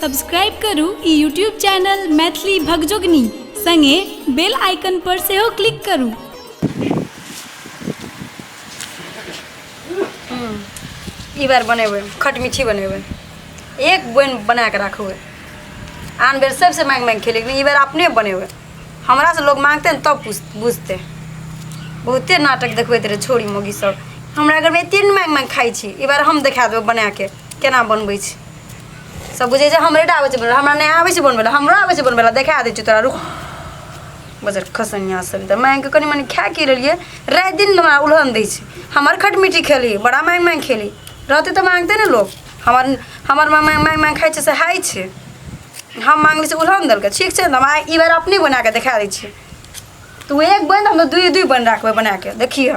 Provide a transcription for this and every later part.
Subscribe करू ई YouTube channel Maithili Bhagjogani संगे बेल आइकन पर सेहो क्लिक करू ई बार बनेबै खट मिठी बनेबै एक बोइन बना कऽ राखबै आन बेर सबसँ माँगि माँगि खेलै ई बेर अपने बनेबै हमरासँ लोक माँगतै ने तब पूछ बुझतै बहुते नाटक देखबैत रहै छोरी मोगी सब हमरा घरमे एतेक ने माँगि माँगि खाइ छी ई बार हम देखा देबै बनाके केना बनबै छी सब बुझे जे हमरे टा आबै छै बनबे हमरा नहि आबै छै बनबे हमरो आबै छै बनबे देखा दै छी तोरा रुक बजर खसनिया सब तऽ मांगि के कनी मनी खा के लेलिए रात दिन हमरा उलहन दै छै हमर खटमिटी खेली बड़ा मांगि मांगि खेली रहते तऽ मांगते ने लोग हमर हमर मांगि मांगि मांगि खाइ छै से हाइ छै हम मांगली से उलहन देलकै ठीक छै हम आइ ई बेर अपने बना के देखा दै छी तू एक बन हम दुई दुई बन राखबे बना के देखिए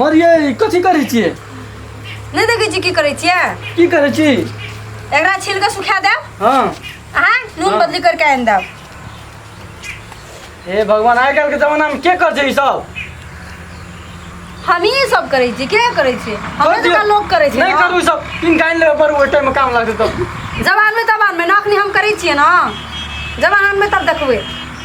मरिए ई कथी करै छियै नहि देखै छी की करै छियै की करै छी एकरा छील कऽ सुखा देब हँ अहाँ नून हाँ। बदली करके आनि देब हे भगवान आइ काल्हिके जमानामे के कर छै ई सब हमही सब करै छी के करै छी हमरे कर दियौ। जकाँ लोक करै छै नहि ने। करू ई सब तीन काइन लेबे पर ओहि टाइममे काम लागतै तब जवानमे तवानमे नखनी हम करै छियै ने जवानमे तब देखबै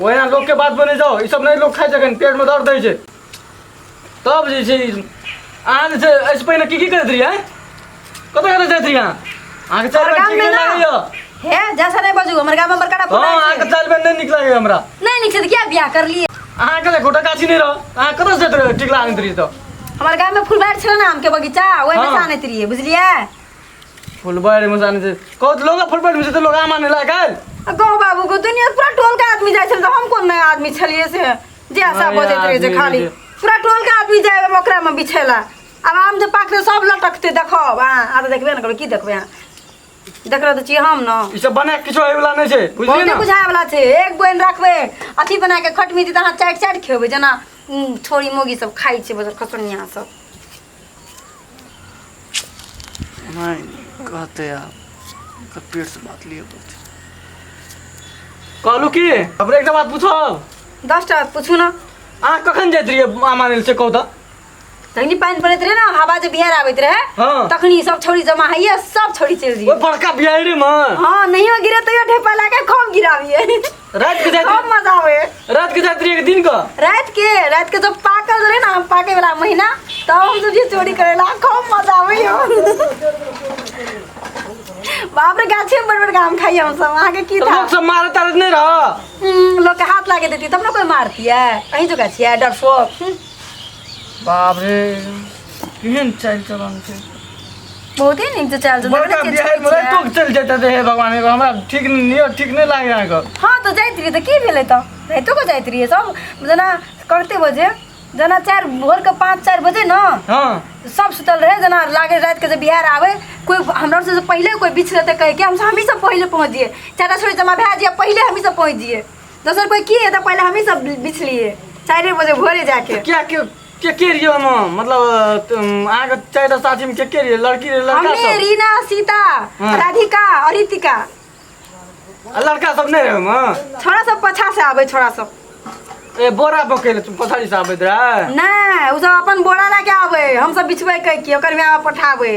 ओहिना लोकके बात बने जाओ ई सब नहि लोक खाइ छै एखन पेटमे दर्द दै छै तब जे छै अहाँ जे छै एहिसँ पहिने की की करैत रहियै आँय? कतऽ कतऽ जाइत रहियै अहाँ अहाँके चालि हमरा बेर ठीक गाममे नहि ना। लागैए हे जैसा नहीं बजू हमर गाममे बड़का हँ फोन अहाँके चालि बेर नहि नीक लागैए हमरा नहीं निकल क्या बियाह कर लिए अहाँके देखो टकाची नहि रह अहाँ कतऽ जाइत रहियै टिकला आनैत रहियै तऽ हमर गाममे फुलबार छलै ने आमके बगीचा ओहिमे हँ। से आनैत रहियै बुझलियै फुलबाड़ी में जाने से कौत लोग फुलबाड़ी में से तो लोग आ माने ला गए गाँव बाबू को दुनिया पूरा टोल के आदमी जाए छल हम कोन नया आदमी छलिए से जे आशा नया बजैत रहे जे आदमी खाली जे। पूरा टोल के आदमी जाए ओकरा में बिछेला आब आम जे पाकते सब लटकते देखब आ आ तऽ देखबे ने करबै की देखबै अहाँ देख रहल तऽ छियै हम ने ई सब बने किछो होय वाला नहीं छे बुझलिए बहुते ना बुझाए वाला छै एक बोइन रखबै अथी बना के खटमी दी तऽ अहाँ चाटि चाटि खेबै जेना उम, छोरी मोगी सब खाइ छै बस खसनिया सब कहते आब ओकर पेट से बात लिए पड़ते कहलू की अब एकटा बात पूछो दस टा पूछू ना अहाँ कखन जाइत रहियै मामा मिल से कहू तऽ तखनी पानि पड़ैत रहे ना हवा जे बिहार आबैत रहे हाँ। तखनी सब छोड़ी जमा होइए सब छोड़ी चलि ओहि जइए बड़का बिहारिमे हाँ नहियो गिरे तैयो ढेपा लागे कम गिराबिए रात के जाते सब मजा आवे रात के जाते एक दिन का रात के रात के जब पाकल रहे ना हम पाके वाला महीना तब हम सब ये चोरी करेला खूब मजा आवे यो बाप रे गाछे में बड़ बड़ काम खाई हम सब वहाँ के की तो था लोग सब मारे तारे नहीं रहा हम्म, लोग के हाथ लागे देती तब ना कोई मारती है कहीं जो गाछी है डरफोक हम्म। बाप रे केहन चाल चलन छै बहुते नीक से चाल चलन बड़का बिहार में रह तो चल जाता थे हे भगवान एगो हमरा ठीक नहीं ठीक नहीं लागे यहाँ का हाँ तो जाइत रहिए तो की भेलै तो राइतो को जाइत रहिए सब जेना कते बजे जेना चार भोर के पाँच चार बजे ना हाँ सब सुतल रहे जेना लागे रात के जे बिहार आवे कोई हमरा से पहले कोई बीछ रहते कहे के हम हम ही सब पहले पहुंच जिए चाचा छोड़ी जमा भए जिए पहले हम ही सब पहुंच जिए दोसर कोई की है तो पहले हम ही सब बिछलिए चारे बजे भोरे जाके क्या के के के रियो हम मतलब तुम आगे चाहे तो साथी में के के रियो लड़की रे लड़का हमने सब रीना सीता हाँ। राधिका और रितिका आ, लड़का सब नहीं रहे हम छोरा सब पछा से आवे छोरा सब ए बोरा बकेले तुम पछाड़ी से आबे दरा नहीं उ सब अपन बोरा लेके आवे हम सब बिछबे कह के ओकर में आवे पठावे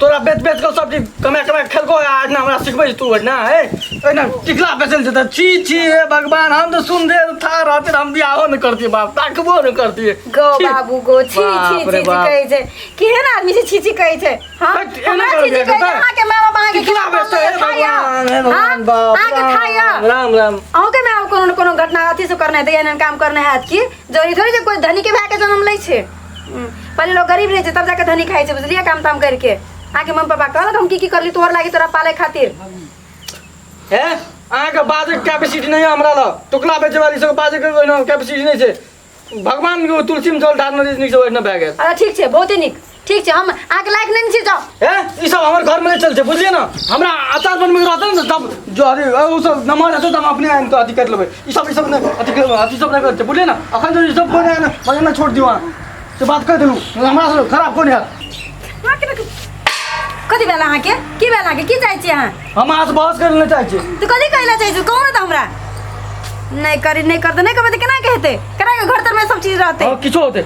तोरा बेच बेच के सब चीज कमा कमा खेलको आज ना हमरा सिखबै तू ना हे एना टिकला बेचल जेता छी छी हे भगवान हम तो सुन दे था रहते हम बियाहो न करती बाप ताकबो न करती गो बाबू गो छी छी छी कहै छै केहन आदमी छै छी छी कहै छै हां एना कर दे कहै छै अहाँ के मामा बाहर के खिला बेचते हे भगवान हे भगवान बाप अहाँ के खाया राम राम अहू के मामा कोनो कोनो घटना अथी से करने दैया एहन काम करने हैत की जरूरी थोड़ी जे कोई धनी के भाई के जन्म लै छै हम्म, पहले लोग गरीब रहे थे तब जाके धनी खाए थे बुझलिए काम ताम करके आके मम्मी पापा कहलक हम की की करली तोहर लागी तोरा पाले खातिर हे अहाँके बाजैके क्यापेसिटी नहि हमरा ल टुक्ला बेचेवाली सबके बाजैके ओहिना क्यापेसिटी नहि छै भगवानके तुलसीमे जल ढारने जे नीकसँ ओहिना भए गेल अच्छा ठीक छै बहुते नीक ठीक छै हम अहाँके लायक नहि छी जाउ हे ई सब हमर घरमे नहि चलतै बुझलियै ने हमरा अचार बनबैके रहतै ने तब जो अरे ओ सब नमहर हेतै तऽ हम अपने आनि कऽ अथी करि लेबै ई सब ई सब नहि अथी के अथी सब नहि करते बुझलिए ना अखन जो ई सब कोने ना मने ना छोड़ दियो अहाँ से बात कर देलू हमरा से खराब कोने है अहाँ के बेटी- कथी भेल अहाँके की भेल अहाँके की चाहै छी अहाँ हम अहाँ से बहस कर लेना चाहै छी तू कथी कहै लए चाहै छी कहू ने तऽ हमरा नहि करी नहि करते नहि करबै तऽ केना कहते केना के घर तरमे सब चीज रहतै और किछो होते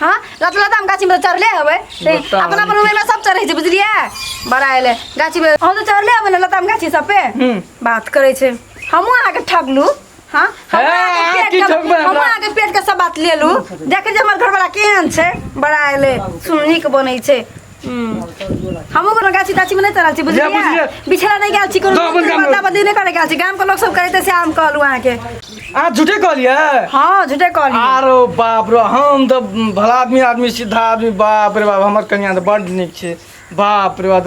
हाँ लतला दाम गाछी में तो चढ़ले हवे ते बताओ, अपना अपन उम्र में सब चढ़े छै बुझलिए बड़ा एले गाछी में हम तो चढ़ले हवे ना लताम गाछी सब पे हम्म। बात करे छै हमहू अहाँ के ठगलू हाँ हम हे, अहाँ अहाँ के की पेट के- ठगबै हमरा? हमहूँ अहाँ के पेट के सब बात लेलू देखे जे हमर घरवाला केहन छै बड़ा एले सुननी के बनै छै हमहू कोनो गाछी ताछी में नहीं तरल छी जा, बुझलियै बुझलियै। बिछड़ा नहीं गेल छी कोनो जा, अपन काम बदला बदली नहीं करे गेल छी गाम के लोग सब कहते से हम कहलू अहाँ के आ झूठे कहलिए हाँ झूठे कहली आरो बाप रे हम तो भला आदमी आदमी सीधा आदमी बाप रे बाप हमर कन्या तो बड नीक छै बाप रे बाप